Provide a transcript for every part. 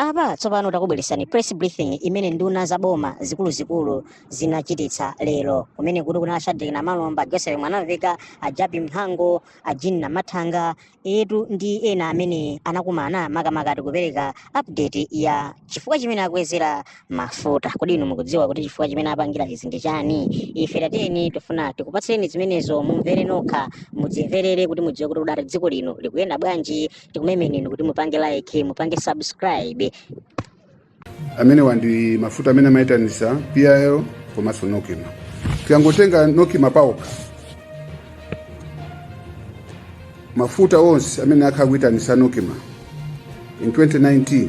apa tsopano takubweretsani press briefing imene nduna za boma zikuluzikulu zinachititsa lero kumene kuti kunali a shadric namalomba a joseph mwanamvekha a jappie mhango a jean namathanga etu ndi ena amene anakumana makamaka ndikupereka update ya chifukwa chimene akwezera mafuta kodi inu mukudziwa kuti chifukwa chimene apangira izi ndi chani ife tatiyeni tifuna tikupatseni zimenezo mumvere nokha mudzimverere kuti mudziwe kuti udati dziko lino likuyenda bwanji tikumemeni inu kuti mupange like mupange subscribe amenewa ndi mafuta amene amayitanisa pil komanso nocma tikangotenga nocma paokha mafuta onse amene akhala akuyitanisa nocma in 2019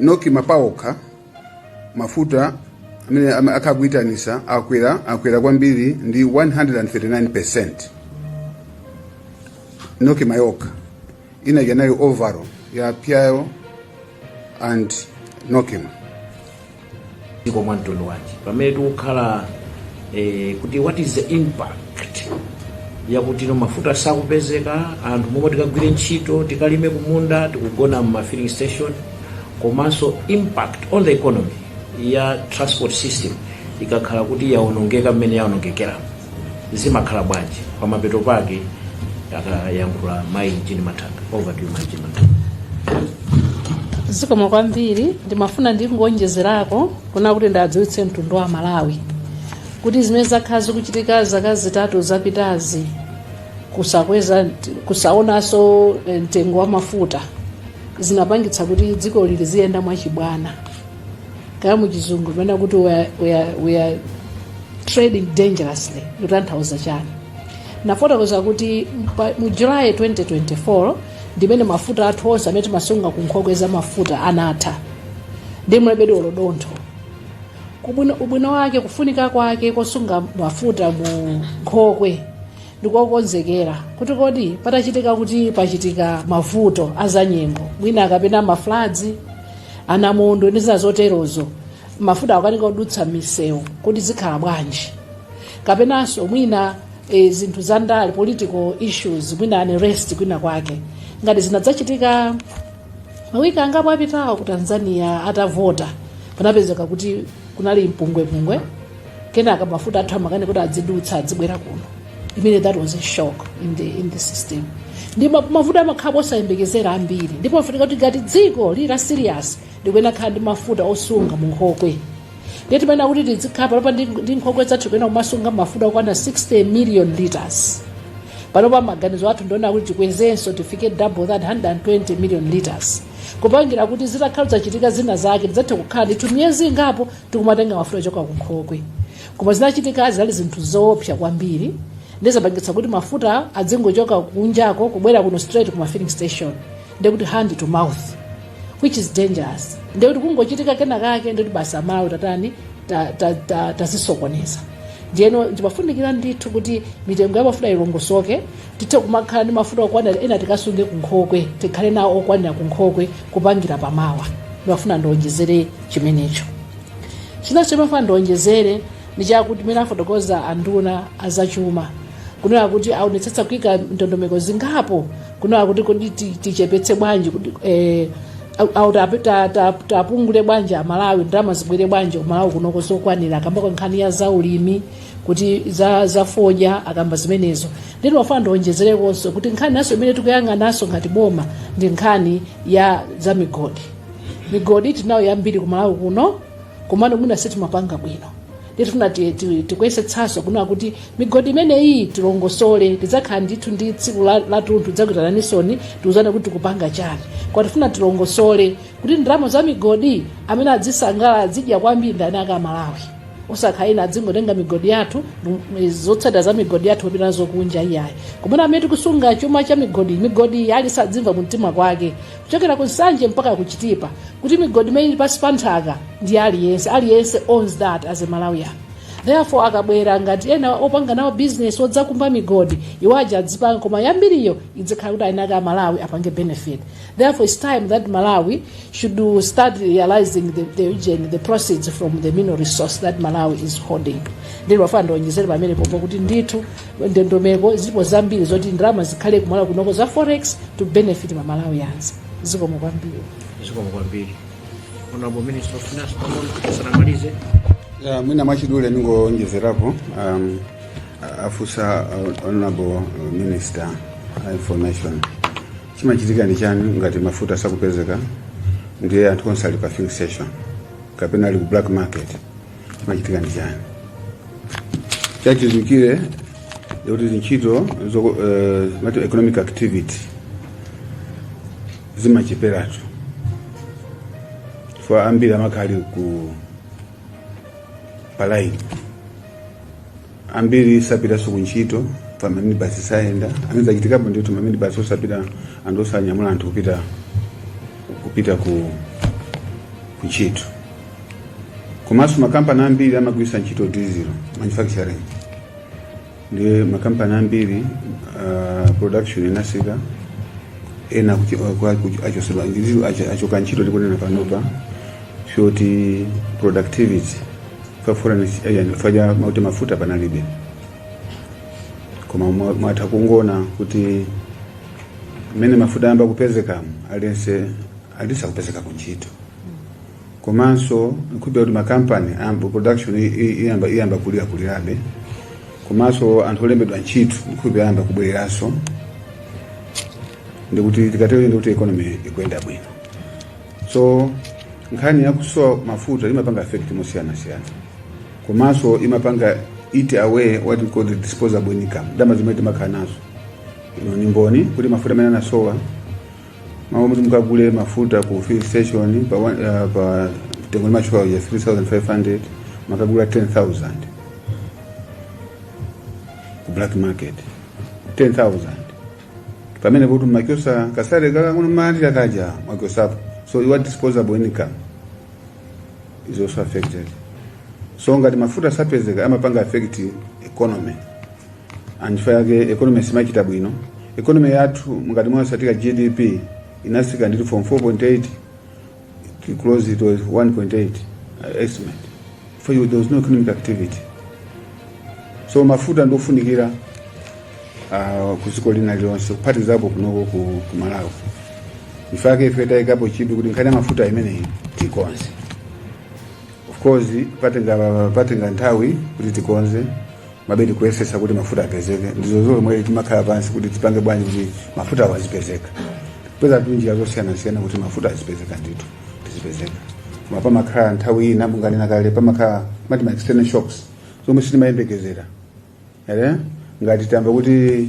nocma paokha mafuta amene ama- akhala akuitanisa akwera akwera kwambiri ndi 139 nocma yokha inadya nayo overall ya pil and nocma dziko mwa mtundu wanji pamene tikukhala eh, kuti what is the impact yakuti no mafuta sakupezeka anthu momwe tikagwire ntchito tikalime kumunda tikugona mma filling station komanso impact on the economy ya transport system ikakhala kuti yaonongeka mmene yaonongekera zimakhala bwanji pamapeto pake akayankhula mayi jean mathanga over to you mayi jean mathanga zikomo kwambiri ndimafuna ndingoonjezerako kunena kuti ndiwadziwitse mtundu wa malawi kuti zimene zakhala zikuchitika zaka zitatu zapitazi kusakweza kusaonanso eh, mtengo wa mafuta zinapangitsa kuti dzikoli liziyenda mwachibwana kaya muchizungu amanena kuti we are, we are, we are trading dangerously kutanthauza chani ndafotokoza kuti mpa- mu july 2024 ndimene mafuta athu onse amene timasunga ku nkhokwe za mafuta anatha ndi mulibe ndi olo dontho ubwino ubwino wake kufunika kwake kosunga mafuta mu nkhokwe ndikokonzekera kuti kodi patachitika kuti pachitika mavuto azanyengo mwina kapena ma floods anamondo ndi zina zoterozo mafuta akukanika kudutsa mmisewu kodi zikhala bwanji kapenanso mwina e, zinthu za ndale political issues mwina unrest kwina kwake ngati zinadzachitika mawiki angapo apitawo ku tanzania atavota panapezeka kuti kunali mpungwepungwe kenaka mafuta athu amakanika kuti adzidutsa adzibwera kuno imene that was a shock in the, in the system ndi ma- mafuta amakhala osayembekezera ambiri ndipo pafunika kuti ngati dziko lili la serious likuyenera kukhala ndi mafuta osunga mu nkhokwe ndiye mmene akuti tidzikhala panopa ndi ndi nkhokwe zathu tikuyenera kumasunga mafuta okwana 60 million liters panopa maganizo athu ndi onena kuti tikwezenso tifike double that 120 million liters kupangira kuti zitakhala zachitika zina zake tidzathe kukhala ndithu miyezi ingapo tikumatenga mafuta ochoka ku nkhokwe koma zinachitika zinali zinthu zoopsa kwambiri ndiye zapangitsa kuti mafuta adzingochoka kunjako kubwera kuno straight ku mafilling station ndekuti hand to mouth which is dangerous ndekuti kungochitika kena kake ndekuti basi amalawi tatani tazisokoneza ndiyeno zimafunikira ndithu kuti mitengo ya mafuta ilongosoke tithe kumakhala ndi mafuta okwanira ena tikasunge kunkhokwe tikhale nawo okwanira kunkhokwe kupangira pamawa ndimafuna ndionjezere chimenecho chinanso ndimafuna ndionjezere ndi chakuti mmene afotokoza anduna azachuma kunena kuti aonetsetsa kuika ndondomeko zingapo kunena kuti kodi ti- tichepetse bwanji kuti eh, au- au tape- ta- ta- tapungule bwanji amalawi ndalama zibwere bwanji kumalawi kunoko zokwanira akambako nkhani ya zaulimi kuti za za fodya akamba zimenezo ndiye ndimafuna ndionjezerekonso kuti nkhani inanso imene tikuyang'ananso ngati boma ndi nkhani ya za migodi migodi tinayo yambiri kumalawi kuno komano mwina sitimapanga bwino ndiye pano tikuyesetsanso kunena kuti migodi imeneyi tilongosole tidzakhala ndithu ndi tsiku la- latunthu tidzakuitananinsoni tiuzane kuti tikupanga chani koma tifuna tilongosole kuti ndalama za migodi amene adzisangalala adzidya kwambiri ndani akhale amalawi osakhala ena adzingotenga migodi yathu m- zotsatira za migodi yathu kupita nazo kunja iyayi komano amene tikusunga chuma cha migodi migodi iyi aliyense adzimva mu mtima kwake kuchokera ku nsanje mpaka kuchitipa kuti migodi imene ili pansi pa nthaka ndi ya aliyense aliyense owns that as a malawian therefore akabwera ngati ena opanga nawo business odzakumba migodi iwo aja adzipanga koma yambiriyo idzikhala kuti eni ake amalawi apange benefit Therefore, it's time that Malawi should start realizing the, the real, the proceeds from the mineral resource that Malawi is holding. Ndiye ndimafuna ndionjezere pamenepopo kuti ndithu ndondomeko zilipo zambiri zoti ndalama zikhale kumalawi kunoko za forex to benefit ma Malawians. Zikomo kwambiri. Zikomo kwambiri. Honorable Minister of Finance, pomwe sanamalize. Yeah, mwina mwachidule ndingonjezerapo um, afunsa uh, honorable minister uh, information chimachitika ndi chani ngati mafuta sakupezeka ndiye anthu onse ali pa filling station kapena ali ku black market chimachitika ndi chani chachidziwikire kuti zintchito zoko- eh, mati economic activity zimacheperatu chifukwa ambiri amakhala ali kuti pa laini ambiri sapitanso ku ntchito pa maminibasi sayenda amene zachitikapo ndithu maminibasi osapita anthu osanyamula anthu kupita kupita ku ku ntchito komanso makampani ambiri amagwiritsa ntchito diesel manufacturing ndi makampani ambiri uh, production inasika ena akuchi- aku- aku- achotsedwa ndizo acho- achoka ntchito tikunena panopa chifukwa choti productivity fafura ndi yani paja mauti mafuta panalibe koma mwa- mwatha kungona kuti mmene mafuta ayamba kupezekamu aliyense akutha kupezeka kuntchito komanso nkupeza kuti makampani ayamba production i- i- iyamba iyamba kulira kulirabe komanso anthu olembedwa ntchito nkupeza ayamba kubwereranso ndikuti tikatero ndikuti economy ikuyenda bwino so nkhani yakusowa mafuta imapanga affect mosiyanasiyana komanso imapanga eat away what we call the disposable income ndalama zimene timakhala nazo inu ndi mboni kuti mafuta mmene anasowa m'malo moti mukagule mafuta ku fuel station pa, one- ah, pa mtengo umatchulidwa ya 3500 mumakagula 10000 ku black market 10000 pamene kuti mwachotsa kasalare kanu mumalandira kaja mwachotsapo so your disposable income is also affected so ngati mafuta sapezeka amapanga affect economy nchifukwa yake economy simachita bwino economy yathu ngati mwatsatira gdp inasika ndithu from 4.8 To close to, it was 1.8 uh, estimate. Chifukwa there was no economic activity. So mafuta ndofunikira uh, kuziko lina lilonse kuphatizapo kunoko ku, ku Malawi. Nchifukwa chake ife tayikapo chidwi kuti nkhani ya mafuta imeneyi tikonze. Of course patenga patenga nthawi kuti tiikonze komabe tikuyesetsa kuti mafuta apezeke ndizo zomwe timakhala pansi kuti tipange bwanji kuti mafuta awo azipezeka kupeza njira zosiyanasiyana kuti mafuta azipezeka ndithu azipezeka koma pamakhala nthawi ina monga ndanena kale pamakhala mati ma external shocks zomwe sitimayembekezera ere ngati tamva kuti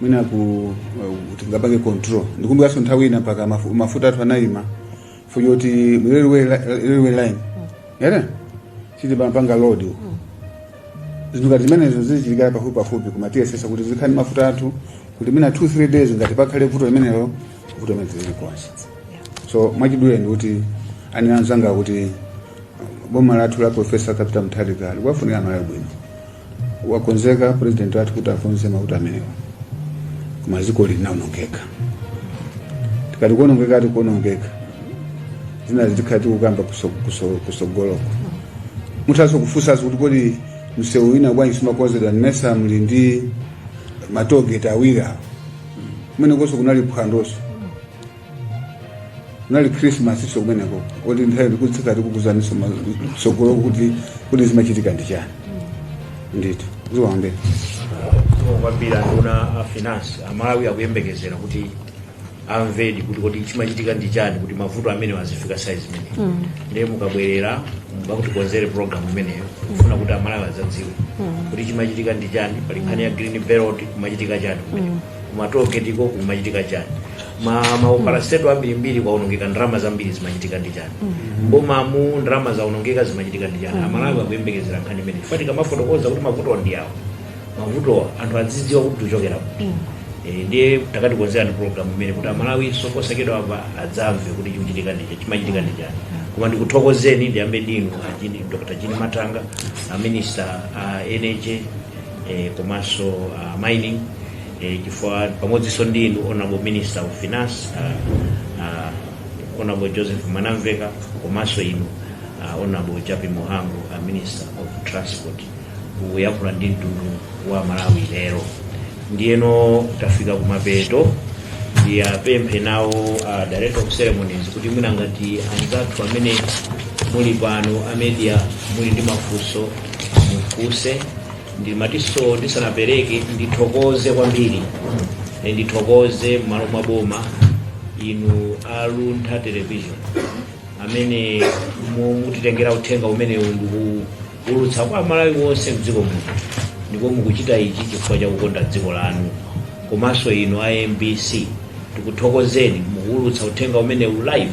mwina ku uh, tingapange control ndikumbukanso nthawi ina mpaka mafu- mafuta athu anayima fuja kuti mu railway li- railway line yere chiti amapanga load uko zinthu ngati zimenezo zichitika pafupi pafupi kumatiyesesa kuti zikhani mafuta athu kuti mina 2 3 days ngati pakhale vuto limenelo vuto limene zili konse so mwachidule ndi kuti anena anzanga kuti boma lathu la profesa Arthur Peter mutharika likuwafunira amalawi bwino wakonzeka president wathu kuti akonze mavuto amenewa koma dziko linaonongeka tikati kuonongeka tikati kuonongeka zinazi tikati kukamba kuso- kuso- kusogoloko muthaso kufunsaso kuti kodi msewu wina bwanji sumakonzedwa ndimayesa muli ndi matogeti awiri awo kumenekonso kunali phwandoso kunali krismasi so kumeneko koti nthawi ndikutsika tikuuzaniso tsogoloko kuti zimachitika ndi chani ndithokoze kwambiri anduna a finance amalawi akuyembekezera kuti amvedi kuti kodi chimachitika ndi chani kuti mavuto amenewa azifika size imeneyi ndiye mukabwerera mukatikonzere program imeneyo kufuna kuti amalawi azadziwe kuti chimachitika ndi chani pali nkhani ya green belt kumachitika chani kumeneko kumatogetiko kumachitika chani ma maopalasteto ambirimbiri kwaonongeka ndalama zambiri zimachitika ndi chani mbomamu ndalama zaonongeka zimachitika ndi chani amalawi akuyembekezera nkhani imene chifukwa tikamafotokoza kuti mavuto ndi awo mavuto anthu azidziwa kuti tichokera kuti Eh, ndiye takatikonzera ndi program imene kuti amalawi sokosekedwa apa adzamve kuti chikuchitika ndi chimachitika ndi chani koma ndikuthokozeni ndiyambe ndinu achini dr chini matanga aminista a nha e, komanso uh, mining e, chifukwa pamodzinso ndi inu honorable minister of finance uh, uh, honorable joseph mwanamveka komanso inu uh, honorable japi muhango uh, minister of transport kuyankhula ndi mtundu wa malawi lero ndiyeno tafika kumapeto ndiwapemphe nawo a director of ceremonies kuti mwina ngati anzathu amene muli pano amedia muli ndi mafunso mufunse ndimatinso ndisanapereke ndithokoze kwambiri Eh, ndithokoze m'malo mwa boma inu aluntha television amene mu- mutitengera uthenga umenewu ndikuulutsa kwa amalawi onse mdziko muno ndipo mukuchita ichi chifukwa cha kukonda dziko lanu komanso inu a mbc tikuthokozeni mukuulutsa uthenga umenewu live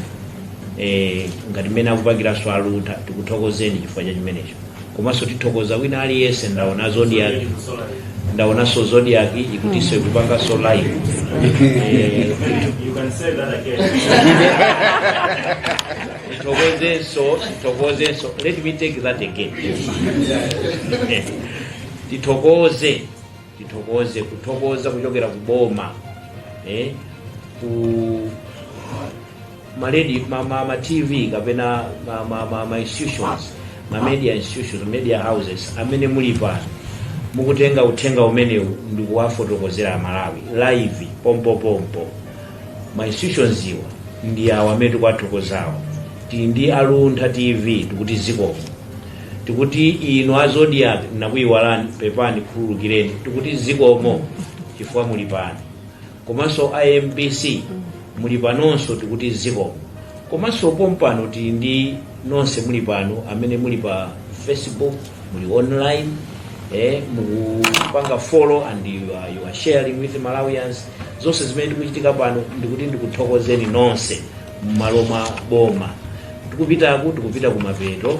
e, ngati mmene akupangiranso aluntha tikuthokozeni chifukwa cha chimenecho komanso tithokoza wina aliyense ndaonanso zodiac ikutinso ikupanganso live Eh, You can say that again. tithokozenso tithokozenso let me take that again Eh, tithokoze tithokoze kuthokoza kuchokera kuboma eh, ku ma radio ma, ma, ma tv kapena ma, ma, ma, ma institutions ma media institutions media houses amene muli pano mukutenga uthenga umenewu ndikuwafotokozera amalawi live pompopompo ma institutions awa ndi awo amene tikuwathokozawo tili ndi aluntha tv tikuti zikomo tikuti inu azodiac nakuyiwalani pepani khululukireni tikuti zikomo chifukwa muli pano komanso a mbc muli panonso tikuti zikomo komanso pompano tili ndi nonse muli pano amene muli pa facebook muli online eh, mukupanga follow and you are, you are sharing with malawians zonse zimene zikuchitika pano ndikuti ndikuthokozeni nonse mmalo mwa boma tikupitaku tikupita kumapeto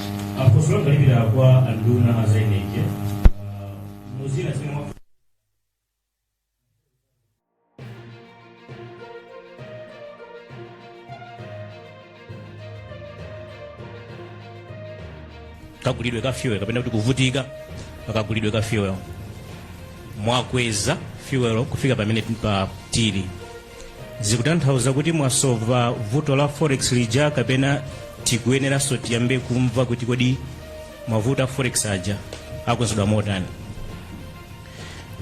kagulidwe ka fuel kapena kuti kuvutika pakagulidwe ka fuel mwakweza fuel kufika pamene pa tili zikutanthauza kuti mwasova vuto la forex lija kapena tikuyeneranso tiyambe kumva kuti kodi mavuto a forex aja akonzedwa motani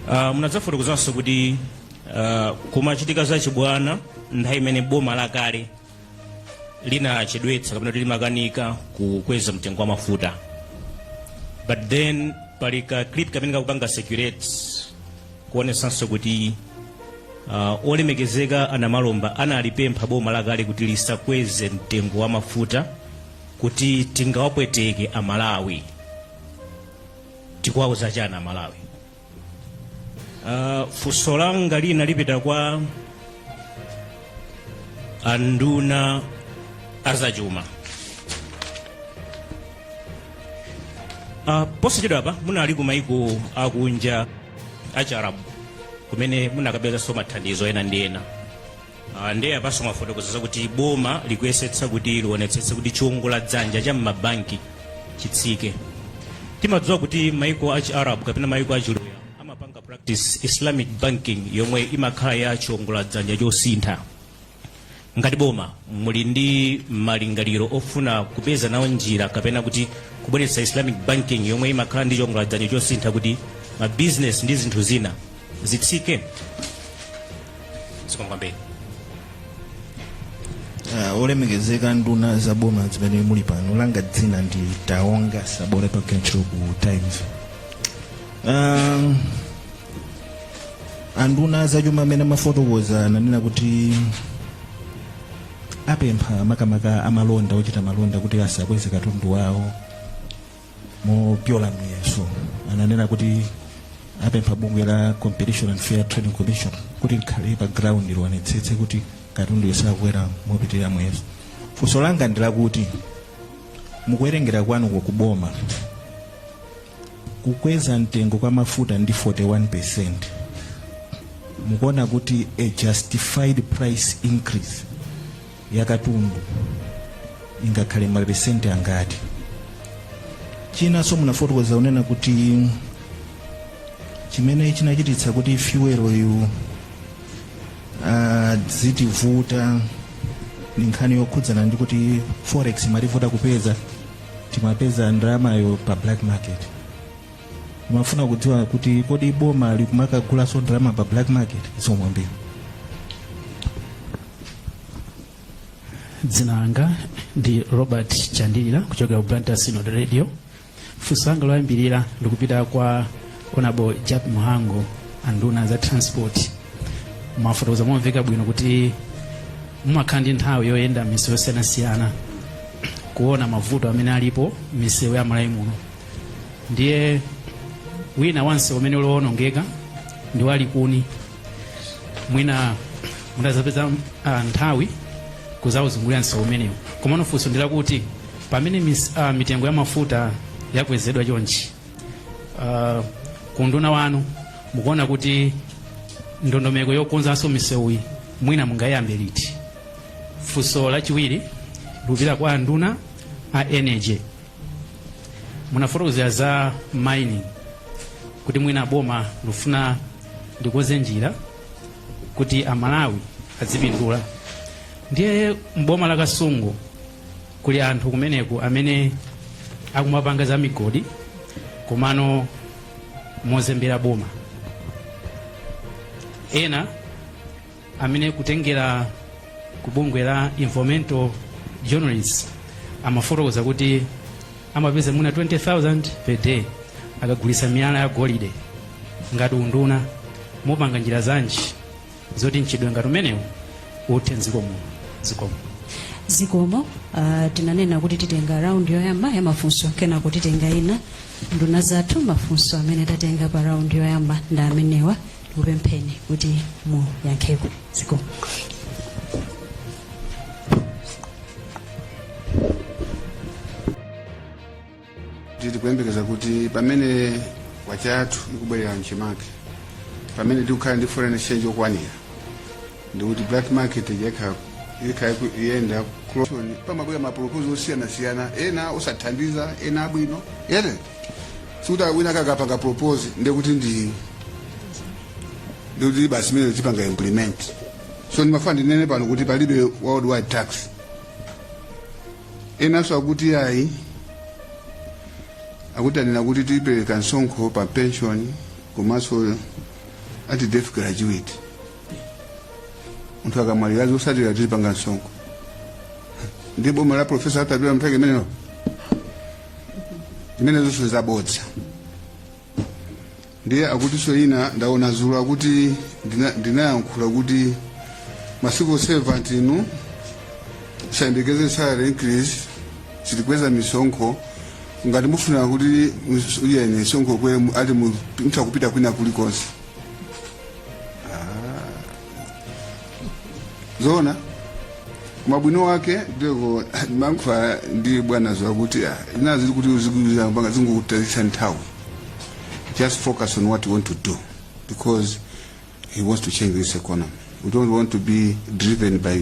uh, munadzafotokozanso kuti uh, kumachitika zachibwana nthawi imene boma lakale linachedwetsa kapena kuti limakanika kukweza mtengo wa mafuta but then pali ka clip kamene kakupanga circulate kuonesanso kuti uh, olemekezeka a namalomba analipempha boma lakale kuti lisakweze mtengo wa mafuta kuti tingawapweteke amalawi tikuwauza chani amalawi Uh, funso langa lina lipita kwa anduna azachuma uh, posachedwa apa munali ku maiko akunja achiarabu kumene munakapezanso mathandizo ena ndi ena Ah, ndiye apanso mwafotokoza zakuti boma likuyesetsa kuti lionetsetse kuti chiwongola dzanja cha m'mabanki chitsike timadziwa kuti maiko a chiarabu kapena maiko a chiluya amapanga practice islamic banking yomwe imakhala ya chiwongola dzanja chosintha ngati boma muli ndi malingaliro ofuna kupeza nawo njira kapena kuti kubweretsa islamic banking yomwe imakhala ndi chiwongola dzanja chosintha kuti mabizinesi ndi zinthu zina zitsike zikomo kwambiri Ah, olemekezeka nduna za boma zimene muli pano langa dzina ndi taonga sabola pakutchero ku times um, anduna zachuma amene amafotokoza ananena kuti apempha makamaka amalonda ochita malonda kuti asakweze katundu wawo mopyola muyeso ananena kuti apempha bungwe la competition and fair trading commission kuti likhale pa ground lionetsetse kuti katunduyo sakwera mopitirira muyeso funso langa ndi lakuti mukuwerengera kwanuko kuboma kukweza mtengo kwa mafuta ndi 41 percent mukuona kuti a justified price increase yakatundu ingakhale mapesenti angati chinanso munafotokoza kunena kuti chimene chinachititsa kuti fyuweloyu azitivuta ndi nkhani yokhudzana ndi kuti forex imativuta kupeza timapeza ndalamayo pa black market ndimafuna kudziwa kuti kodi boma likumakagulaso ndalama pa black market zikomo kwambiri dzina langa ndi robert chandilira kuchokera ku blantyre synod radio funso langa loyambirira likupita kwa honourable jappie mhango anduna za transport mwafotokoza momveka bwino kuti mumakhala ndi nthawi yoyenda m'misewu yosiyanasiyana kuona mavuto amene alipo m'misewu ya malawi muno ndiye wina wa msewu umene uli wowonongeka ndi wa likuni mwina mudzapeza uh, nthawi kuzauzungulira msewu umenewu komano funso ndi lakuti pamene mis, uh, mitengo ya mafuta yakwezedwa chonchi uh, kunduna wanu mukuona kuti ndondomeko yokonzanso misewuyi mwina mungaiyambe liti funso lachiwiri likupita kwa anduna a energy munafotokozera za mining kuti mwina boma likufuna likonze njira kuti amalawi adzipindula ndiye m'boma la kasungu kuli anthu kumeneku amene akumapanga za migodi komano mozembera boma ena amene kutengera ku bungwe la environmental journalists amafotokoza kuti amapeza mwina 20000 per day akagulitsa miyala ya golide ngati unduna mupanga njira zanji zoti mchitidwe ngati umenewu uthe mdziko muno zikomo uh, tinanena kuti titenga raundi yoyamba ya mafunso kenako titenga ina nduna zathu mafunso amene tatenga pa raundi yoyamba ndi amenewa ndikupempheni kuti muyankheko zikomo tikuyembekeza kuti pamene kwacha yathu ikubwerera mchimake pamene tikukhala ndi foreign exchange okwanira ndikuti black market yekha yekha iku- iyenda pamabwera mapropozal osiyanasiyana ena osathandiza ena abwino ere sikuti wina kakapanga propose ndiye kuti ndi ndikuti basi mene tipanga implement so ndimafuna ndinene pano kuti palibe worldwide tax enanso akuti ayi akuti anena kuti tipereka msonkho pa pension komanso ati death gratuity munthu akamwalira zotsalira tizipanga msonkho mu boma la profesa arthur peter mutharika zimenezo zimenezo zonse zabodza ndiye akutinso ina ndaona dzulo akuti ndina- ndinayankhula kuti ma civil servant inu musayembekeze salary increase sitikweza misonkho ngati mufuna kuti mus- uyeni misonkho ikwere mu- ati mu- mutha kupita kwina kulikonse zoona koma ubwino wake ndiko ndimayankhula ndi bwana zakuti ah, inazi kuti uzikuza mpaka zingokutayitsa nthawi just focus on what you want to do because he wants to change this economy we don't want to be driven by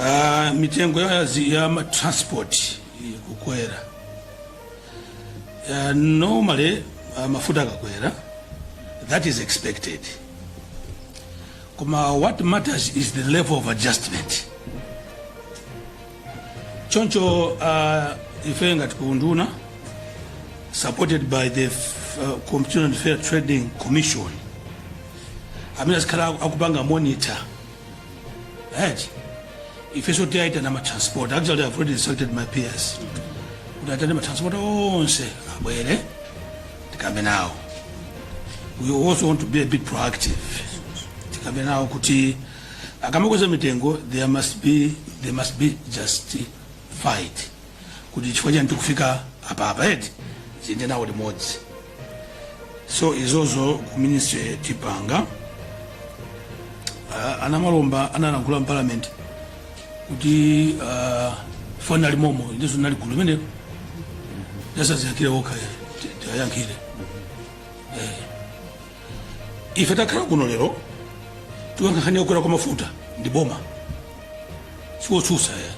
Ah, mitengo ya, zi- ya ma- transport ikukwera uh, normally uh, mafuta akakwera that is expected koma what matters is the level of adjustment choncho uh, ife ngati kuunduna supported by the uh, competition and fair trading commission amene azikhala aku- akupanga monitor right ife so tiwaitana matransporter actually i've already instructed my PS kuti aitane matransporter onse abwere tikambe nawo we also want to be a bit proactive tikambe nawo kuti Akamakweza mitengo there must be there must be justified kuti chifukwa chani tikufika apa apa eti tiziyenda nawo limodzi so izozo ku ministry tipanga uh, a namalomba analankhula mu parliament kuti uh, foni ali momo ndizo nali gulu limenelo asadziyankhire okha tiwayankhire ife takhala kuno lero tikukamba nkhani yokwera kwa mafuta ndi boma si otsutsa ayi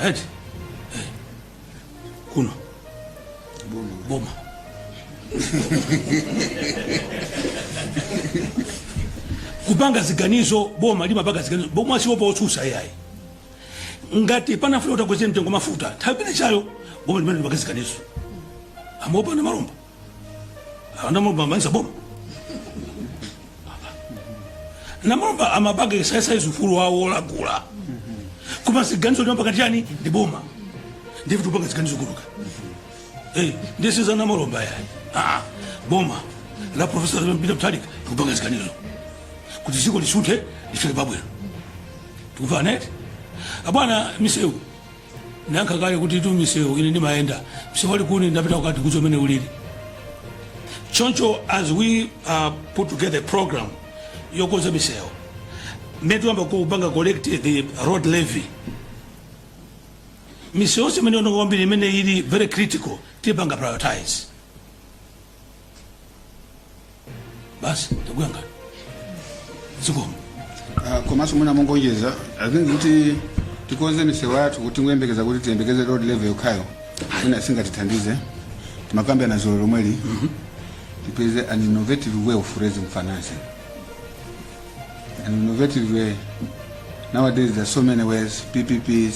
right Eh. kuno boma kupanga ziganizo boma limapanga ziganizo boma siliopa otsutsa ayi ngati panafunika kuti akweze mtengo mafuta nthawi imenechayo boma limene limapanga ziganizo amaopa a Malondera a Malondera a Malondera si boma a Malondera amapanga exercise ufulu wawo olankhula koma ziganizo limapanga chani ndi boma ndife tupanga ziganizo kulamula Eh, ndi ife si a Malondera ayi aa boma la profesa Peter Mutharika tikupanga ziganizo kuti dziko lisunthe lifike pabwino tikufuna eti abwana misewu nanga kale kutitu misewu ine ndimayenda msewu wa Likuni ndapita kwathu kuja mene ulili choncho as we uh, put together a program yokonza misewu mmene tuyamba kupanga collect the road levy misewu yonse imene yaonongeka kwambiri imene ili very critical tipanga prioritize basi ndakunyadirani zikomo Ah, komanso mwina mongoonjezera i think kuti tikonze misewu yathu kuti tingoyembekeza kuti tiyembekeze road levy yokhayo mwina singatithandize timakambirana dzulo lomweli tipeze an innovative way of raising financing an innovative way nowadays there are so many ways ppps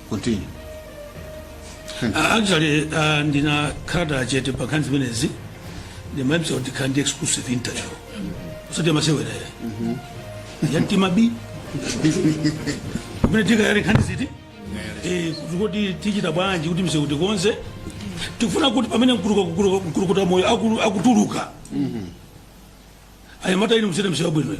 Continue. Uh, actually uh, ndinakhala ndili chete pa nkhani zimenezi ndimadziwa kuti tikhala ndi exclusive interview osati amasewerere a Mtima B kumene tikayale nkhani zoti Eh, kuti kuti tichita bwanji kuti msewu tikonze tikufuna kuti pamene mkuluka- mkuluka- mkulukuta moyo akulu- akutuluka anyamata inu muyende msewu abwinoyo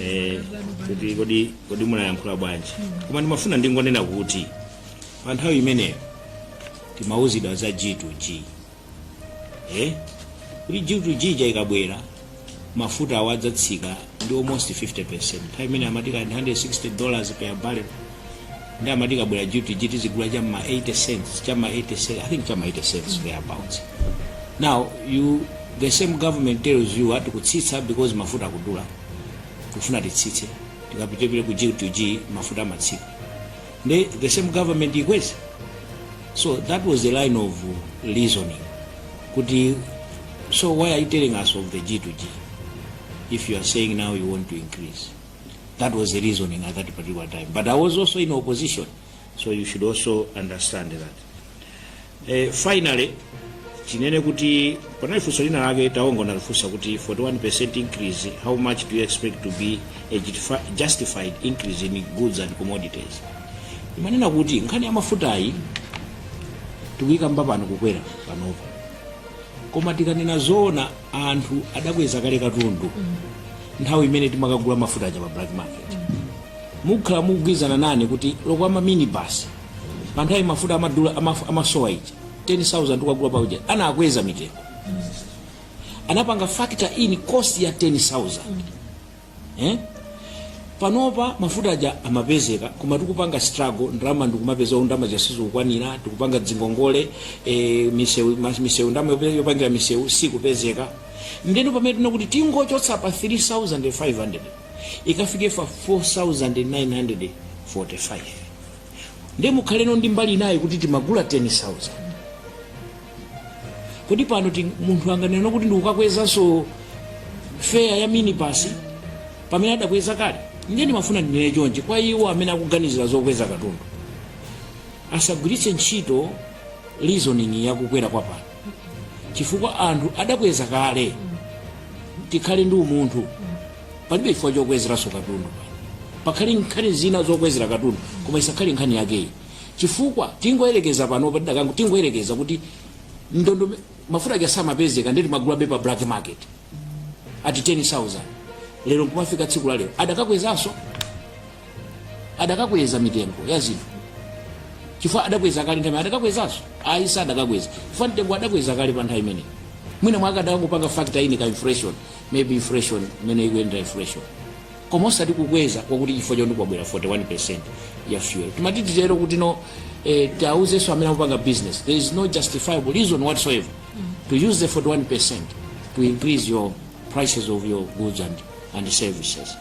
eh, kuti kodi kodi munayankhula bwanji koma ndimafuna ndingonena kuti pa nthawi imeneyo timauzidwa za g to g eh? kuti g to g ikabwera mafuta awo adzatsika ndi almost 50 percent nthawi imene amati ndi 160 dollars per barrel ndi amati ikabwera g2g tizigula cha ma 80 cents cha ma 80 cents i think cha ma 80 cents thereabouts now you the same government tells you ati kutsitsa because mafuta akudula kufuna titsitse tikapite tipite ku g2g mafuta amatsika ndi the same government ikweza so that was the line of reasoning kuti so why are you telling us of the g2g if you are saying now you want to increase That was the reasoning at that particular time. But I was also in opposition, so you should also understand that. Uh, finally, ndinene kuti panali funso lina lake Taonga analifunsa kuti 41% increase how much do you expect to be a justifi- justified increase in goods and commodities ndimanena kuti nkhani ya mafutayi tikuyikamba pano kukwera panopa koma tikanena zoona anthu adakweza kale katundu nthawi imene timakagula mafuta aja pa black market mukhala mukugwirizana nane kuti olo a ma minibus pa nthawi mafuta amadula amaf- amasowa ija 10000 tikugula paujayi anakweza mitengo anapanga factor in cost ya 10000 eh? panopa mafuta aja amapezeka koma tikupanga struggle ndalama tikumapeza ndalama zosakwanira tikupanga dzingongole e, misewu mas- misewu ndalama yope- yopangira misewu sikupezeka ndeno pamene tanena kuti tingochotsa pa 3500 ikafike pa 4945 ndiye mukhaleno ndi mbali inayi kuti timagula 10000 kodi pano ti- munthu anganena kuti ndikukakwezanso feya ya minibasi pamene adakweza kale ndiye ndimafuna ndinene chonchi kwa iwo amene akuganizira zokweza katundu asagwiritse ntchito reasoning yakukwera kwa pano chifukwa anthu adakweza kale tikhale ndi umunthu palibe chifukwa chokwezeranso katundu pakhale nkhani zina zokwezera katundu koma isakhale nkhani yakeyi chifukwa tingoyerekeza pano patidakango- tingoyerekeza kuti ndondo mafuta aja samapezeka nde timagulabe pa black market ati 10000 lero nkumafika tsiku la lero adakakwezanso adakakweza mitengo ya zinthu chifukwa adakweza kale nthawi adakakwezanso ayi sadakakweza chifukwa mtengo adakweza kale pa nthawi imeneyi mwina mwake adakangopanga factor in ka inflation maybe inflation imene ikuyendera inflation koma osati kukweza kwakuti chifukwa choti kwabwera 41 ya fuel timati titi lero kuti no eh, tiauzenso amene akupanga business there is no justifiable reason whatsoever to use the 41 to increase your prices of your goods and, and services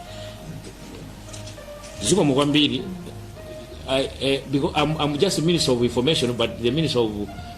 zikomo kwambiri I, eh, because I'm, I'm just a minister of information but the minister of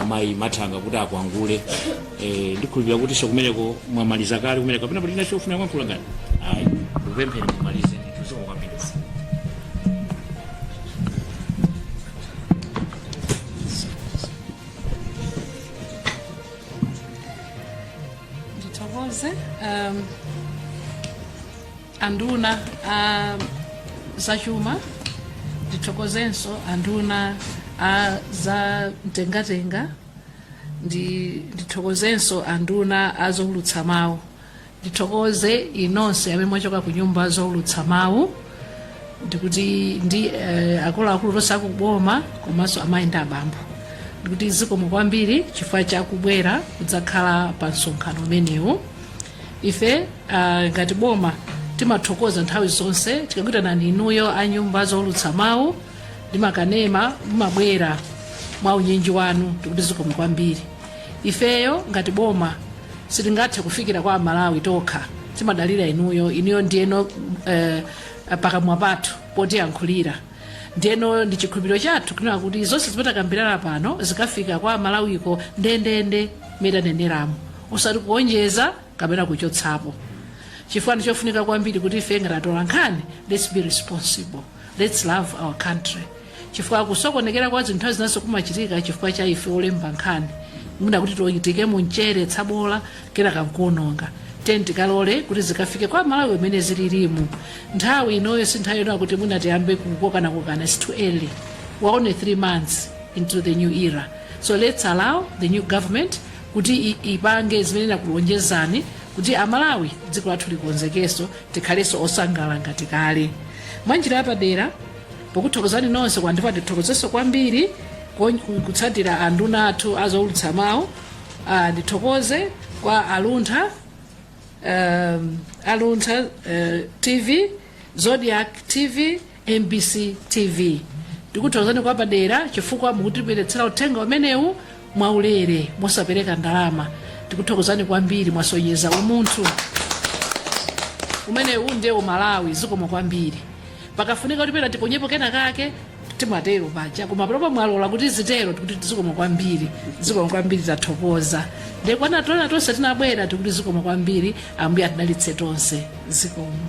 amayi mathanga kuti akwangule eh, ndikhulupirira kutinso kumeneko mwamaliza kale kumene kapena pali china chofuna kuyankhula ngati ayi ndikupempheni mumalize ndithokoze kwambiri ndithokoze um, anduna a zachuma ndithokozenso anduna a za mtengatenga ndithokozenso anduna a zoulutsa mawu ndithokoze inonse amene mwachoka ku nyumba zoulutsa mawu ndikuti ndi eh, akuluakulu tonse akuboma komanso amayi ndi abambo ndikuti zikomo kwambiri chifukwa chakubwera kudzakhala pa msonkhano umenewu ife ah, ngati boma timathokoza nthawi zonse tikakuitanani inuyo a nyumba zoulutsa mawu ndi makanema mumabwera mwa unyinji wanu tikuti zikomo kwambiri ifeyo ngati boma sitingathe kufikira kwa amalawi tokha timadalira inuyo inuyo ndiyeno eh, pakamwa pathu potiyankhulira ndiyeno ndi chikhulupiriro chathu kunena kuti zonse zimene takambirana pano zikafika kwa amalawiko ndendende mmene taneneramu osati kuonjeza kapena kuchotsapo chifukwa ndi chofunika kwambiri kuti ife ngati atola nkhani let's be responsible let's love our country chifukwa kusokonekera kwa zinthu nthawi zinanso kumachitika chifukwa cha ife olemba nkhani mwina kuti tiyikemo mchere tsabola kenaka nkuononga tiyeni tikalole kuti zikafike kwa amalawi mmene zililimu nthawi inoyo si nthawi yonena kuti mwina tiyambe kukokanakokana its too early we're only three months into the new era so let's allow the new government kuti ipange zimene inakulonjezani kuti amalawi dziko lathu likonzekenso tikhalenso osangala ngati kale mwa njira yapadera pokuthokozani nonse kwathu ndipo ndithokozenso kwambiri kon- ku- kutsatira anduna athu azoulutsa mawu Ah, ndithokoze kwa aluntha um, aluntha uh, tv Zodiak TV, mbc TV. Ndikuthokozani kwa padera chifukwa mukutibweretsera uthenga umenewu mwaulere mosapereka ndalama. Tikuthokozani kwambiri mwasonyeza umunthu. Umenewu ndiye umalawi zikomo kwambiri. Pakafunika kuti pena tiponyepo kena kake timatero paja koma panopa mwalola kuti zitero tikuti zikomo kwambiri zikomo kwambiri tathokoza ndiye kwa ena tonse tonse tinabwera tikuti zikomo kwambiri ambuye atidalitse tonse zikomo